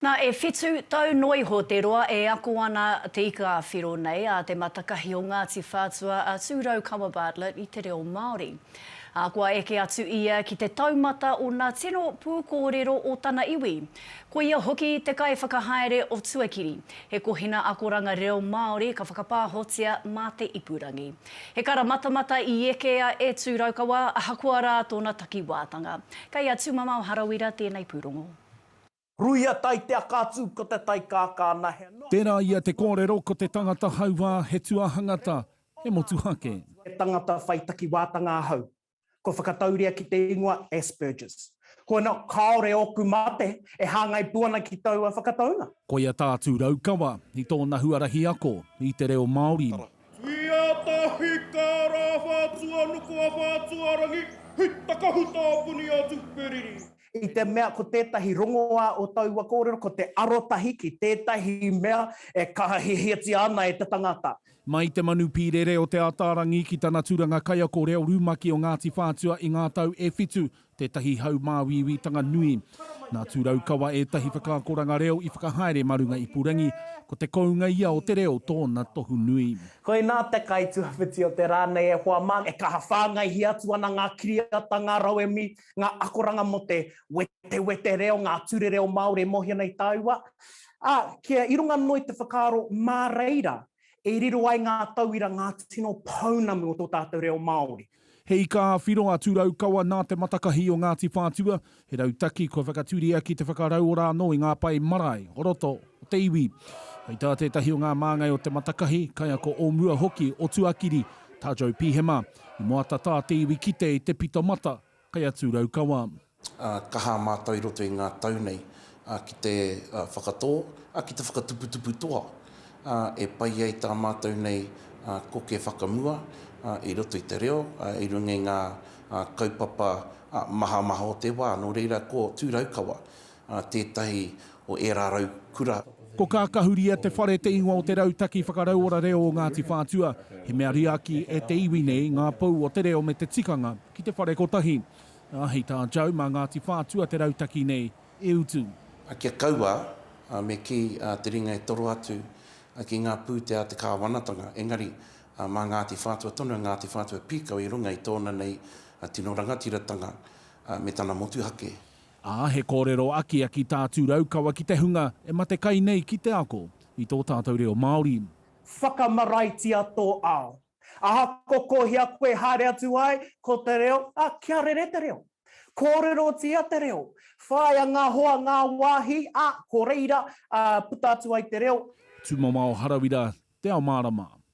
Nā, e whitu tau noa iho te roa e ako ana te ika-a-whiro nei a Te Matakahi o Ngāti Whātua a Tūraukawa Bartlett i te reo Māori. Ā, kua eke atu ia ki te taumata o nā tino pūkōrero o tana iwi. Ko ia hoki te kaiwhakahaere o Tuakiri, he kohina akoranga reo Māori ka whakapāhotia mā te ipurangi. He kara matamata i ekea e Tūraukawa ahakoa rā tōna takiwātanga. Kei a Tūmamao Harawira tēnei pūrongo. Ruia tai te aka atu ko te tai kākā na he. Tērā ia te kōrero ko te tangata hauā he tuahangata, he motuhake. He tangata whai takiwātanga ahau. Kua whakatauria ki te ingoa Asperger's. Koina kāore ōku mate e hāngai pū ana ki taua whakataunga. Koia tā Tūrau Kawa i tōna huarahi ako i te reo Māori. Tuia tahi ka rā whātua nuku a Whātuarangi, hei takahuta a Puni a Tuperiri. I te mea ko tētahi rongoā o taua kōrero ko te arotahi ki tētahi mea e kaha hiahiatia ana e te tangata. Mai te manu pīrere o Te Ataarangi ki tana tūranga kaiako reo rumaki o Ngāti Whātua i ngā tau e whitu, tētahi hau māuiuitanga nui. Nā Tūraukawa ētahi whakaakoranga reo i whakahaere mā runga ipurangi, ko te kounga ia o te reo tōna tohu nui. Koinā te kaituawhiti o te rā nei e hoa mā, e kaha whāngaihia atu ana ngā kiriata, ngā rauemi, ngā akoranga mō te wetewete reo, ngā ture reo Māori e mōhio nei tāua, ā, kia i runga noa i te whakaaro mā reira e riro ai ngā tauira ngā tino pounamu o tō tātou reo Māori. He ika ā-whiro, atu Raukawa nā te matakahi o Ngāti Whātua, he rautaki kua whakatūria ki te whakarauora anō i ngā pae marae o roto o te iwi. Hei tā tētahi o ngā māngai o te matakahi, kaiako o mua hoki o Tuakiri, tā Joe Pihema, I moata tā te iwi kite i te pito mata, kai atu Raukawa. Kaha mātou i roto i ngā tau nei ki te whakatō, ki te whakatuputupu toa e pai ai tā mātou nei koke whakamua i roto i te reo, i runga i ngā kaupapa mahamaha o te wā. Nō reira, ko Tū Raukawa a tētahi o ērā rau kura. Ko Kākahuria te whare te ingoa o te rautaki whakarauora reo o Ngāti Whātua. He mea riaki e te iwi nei ngā pou o te reo me te tikanga ki te whare kotahi. Ā, hei tā Joe, mā Ngāti Whātua te rautaki nei e utu. Ā, kia kaua, ā, me kī, ā, te ringa e toro atu, ā, ki ngā pūtea a te kāwanatanga. Engari, ā, mā Ngāti Whātua tonu a Ngāti Whātua pīkau i runga i tōna nei tino rangatiratanga, ā, me tana motuhake. Ā, he kōrero akiaki tā Tū Raukawa ki te hunga e mate kai nei ki te ako i tō tātou reo Māori. Whakamaraitia tō ao. Aha, ko kohia koe haere atu ai, ko te reo, ā, kia rere te reo. Kōrerotia te reo. Whāia ngā hoa, ngā wāhi, ā, ko reira, ā, puta atu ai te reo. Tūmamao Harawira, Te Ao Mārama.